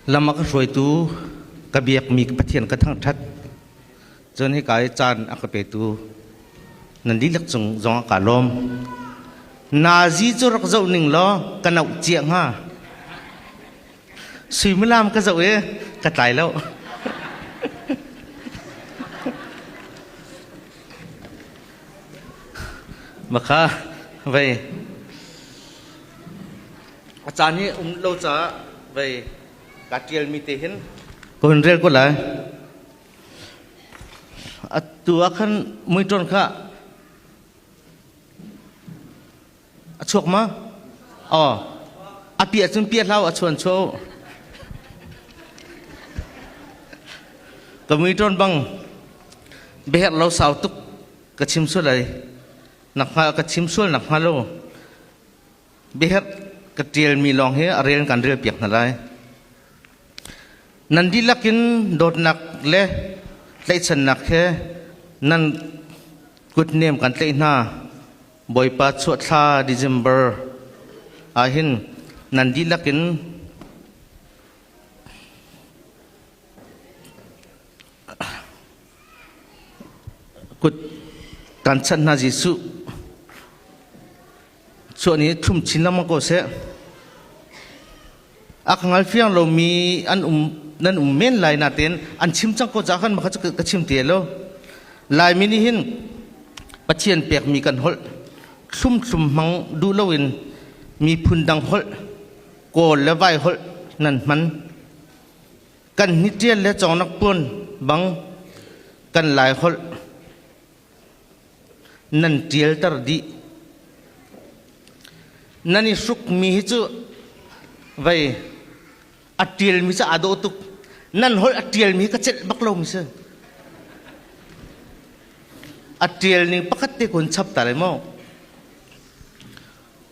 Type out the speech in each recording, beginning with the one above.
Lam a ka hruaitu ka biakmi Pathian ka thangṭhat. Cun hika i caan a ka petu nan dihlak cung zong ah kaa lawm. Nazi cu rak zoh ning law ka noh cia hnga. Suimilam ka zoh i ka tlai lo. Maka, vei. A caan hi um lo caah vei kaa ṭialmi te hin ka hun rel ko lai. Atu ah khan muiṭon kha a chuak ma? Oh, a piah cun piah hlau a chuan chuau. Ka muiṭon bang biaherh lo sau tuk ka chim sual ai. Nak hnga ka chim sual nak hnga lo biaherh ka ṭialmi lawng hi a rel kan rel piak hna lai. Nan dihlak in dawtnak le tlaihchannak he nan kutnem kan tlaih hna. Bawipa chuahthla December ah hin nan dihlak in kut kan chanh hna Jesuh chuan i thum chin lengmang ko seh a ka ngal fiang lomi an um nan um men lai natin an chim cang ko cah khan maka cu ka chim te lo laimi nih hin pathian pekmi kan holh thlum thlum hmang duh loin miphun dang holh kawl le vai holh nan hman kan hni tial le chawngnak pun bang kan lai holh nan ṭialter dih. Nan i hrukmi hi cu vei a ṭialmi cu aa dawh tuk. Nan holh a ṭialmi ka celh bak lomi si. A ṭial ning pakhat te kun chapter ai maw?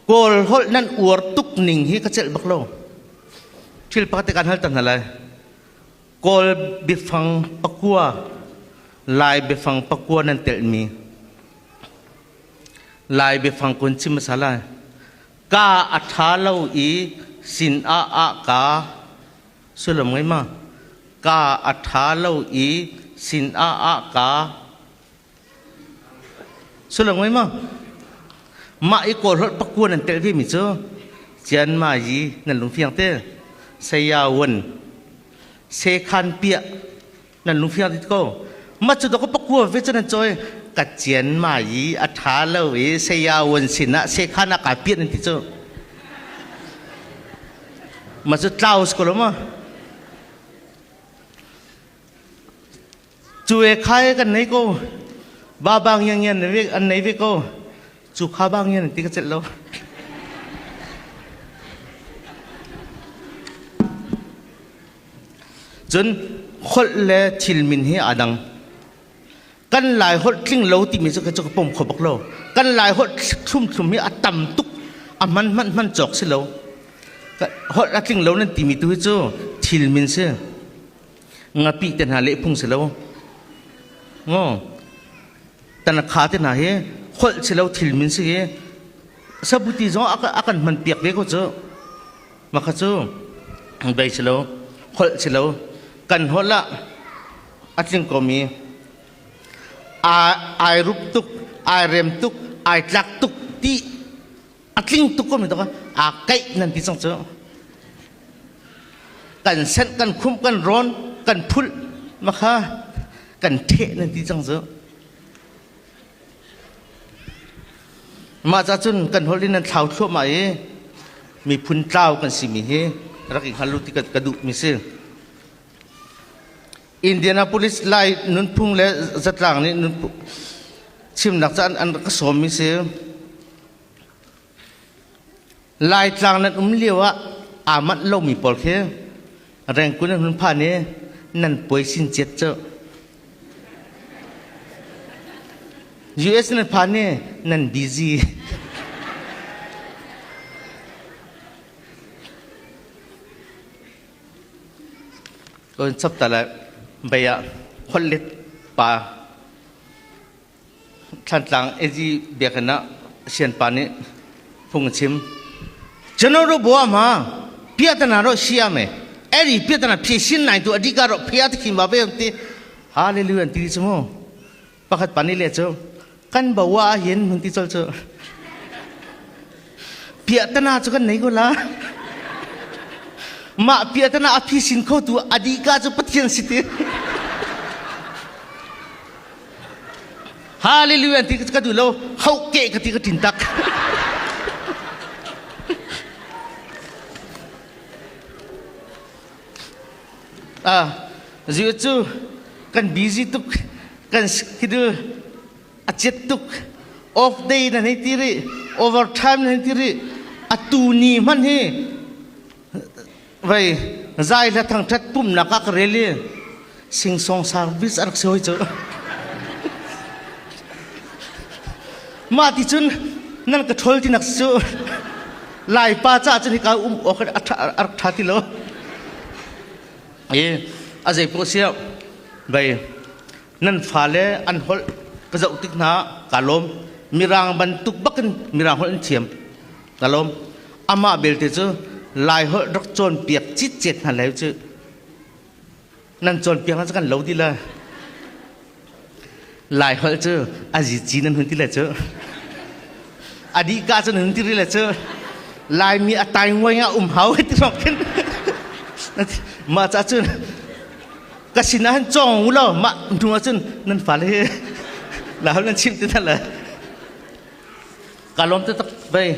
Kawl holh nan uar tuk ning hi ka celh bak lo. Thil pakhat te kan hal ta hna lai. Kawl biafang pakua, Lai biafang pakua nan telhmi, Lai biafang kun chim hmasa lai. Ka a ṭha lo i sin ah ah ka sullam ngei ma? Ka a ṭha lo i sin ah ah ka Sulung mai maw? Mah i kawl hlot pakua nan tel vemi cu Cian Ma Yi nan lung fiang te. Saya Wen se khan piah nan lung fiang dit ko. Mah cu dok pakua ve cu nan cawi ka Cian Ma Yi a ṭha lo i Saya Wen sinah se khan a ka piah nan ti cu. Mah cu tlaus ko lo maw? cu e khai kan nei ko ba bang ngiang ngian an nei ve ko cu kha bang ngian ti ka celh lo cun holh le thil min hi aa dang kan lai holh tling lo timi cu cu ka pom kho bak lo kan lai holh thlum thlum hi a tam tuk a man man man cawk si lo holh a tling lo nan timi tu hi cu thil min si ngapih te hna lehphung si lo ngo tanakha te hna hi kholh si lo thil min si hi sabuti zong a kan hman piak ve ko cu makha cu dai si lo kholh si lo kan holh lah a tling komi ai rup tuk ai rem tuk ai tlak tuk ti a tling tuk ko mi tuk aa kaih nan ti cang cu kan senh kan khumh kan rawn kan phulh makha kan theh nan ti cang cu mah ca cun kan holh in nan thlau thluahmah i miphun tlau kan si mi hi rak i hngal u ti ka duh mi si Indianapolis lai nunphung le zatlang nih chimnak ca an rak ka sawmmi si. Laitlang nan um lio ah aa manh lomi pawl khi rengkun an hun phan i nan puai sin ciat cu. US nan phan i nan busy. Lon chapta le bei ah holhlet pa Thlantlang AG Biakinn ah sianpa nih phung a chim. General ro bua ma piatana ro sia me eri piatana phi sin nai tu adika ro phia thim ba ve ti hallelujah ti chi mu Pakhat pa nih le cu kan bo ah hin mun ti col cu piahtana cu kan nei ko la mah piahtana a phi sin kho tu adika cu pathian si ti hallelujah ti ka du lo hau ke ka ti ka tin tak Zir cu kan busy tuk, kan schedule a ciat tuk. Off day nan hei ti rih, overtime nan hei ti rih. A tu ni hman hi vei zai hla thangthat pumnak ah ka rel i Singsong sang vis a rak si hoi cu. Mah ti cun nan ka ṭhol ti nak cu Laipa caah cun hika um awk a rak ṭha ti lo. I a zei poh sia vei nan fale an holh ka zoh tik hna ka lawm. Mirang bantuk bakin Mirang holh an thiam ka lawm. Amah belte cu Lai holh rak cawnpiak citcet hna lai cu nan cawnpiak ah kan lo ti le lai holh cu azi ci nan hun ti le cu adihka cu nan hun ti ri le cu laimi atai nguai nga um hau ti rok khin mah ca cun ka sin ah han cawng u law mah hnu ah cun nan fale hi la hau nan chim ti than le ka lom te tak vei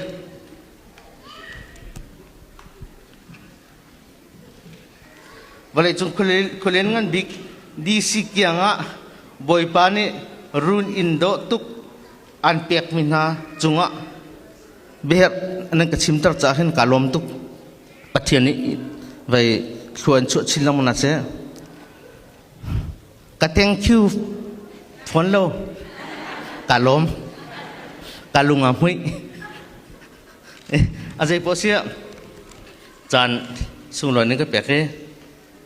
Vawleicung khualen ngan bik DC kiang ah Bawipa nih run in dawh tuk an pekmi hna cungah biaherh nan ka chimter caah hin kaa lawm tuk. Pathian nih vei thluan chuah chin lengmang na seh. Ka thank you phone lo ka lawm ka lung a hmuih a zei poh sia caan sunglawi ning ka pek hi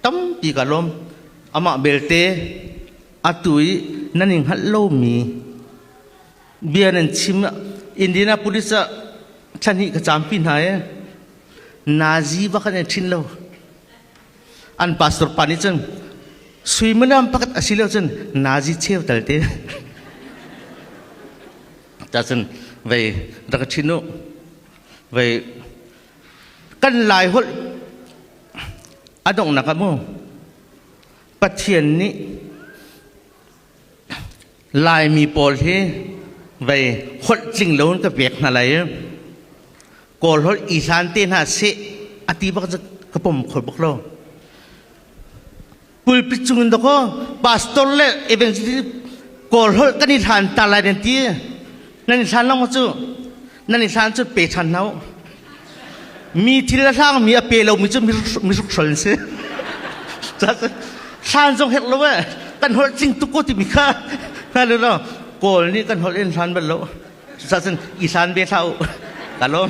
tampi ka lawm amah belte atu i nan in hngalh lomi bia nan chim Indianapolis ah thlahnih ka caampi hna i nazi ba kan ei thin lo an pastor pa nih cun suimanam pakat a si lo cun nazi cheu tal te ta cun vei rak thin u vei kan lai holh a donghnak ah maw pathian nih laimi pawl hi vei holh tling lo in ka pek hna lai kawl holh i hlan te hna seh a ti bak ka pom kho bak lo pulpit cungin dakaw pastor le evangelist kawl holh kan i hlan ta lai nan ti nan i hlan lo cu nan i hlan cu pe ṭhan hna mi thil a hlang mi a pe lo mi cu miruk hrol si hlan zong herh lo eh kan holh cing tuk ko timi kha hna le no kawl nih kan holh in hlan bal lo sachin i hlan ve hla u ka lawm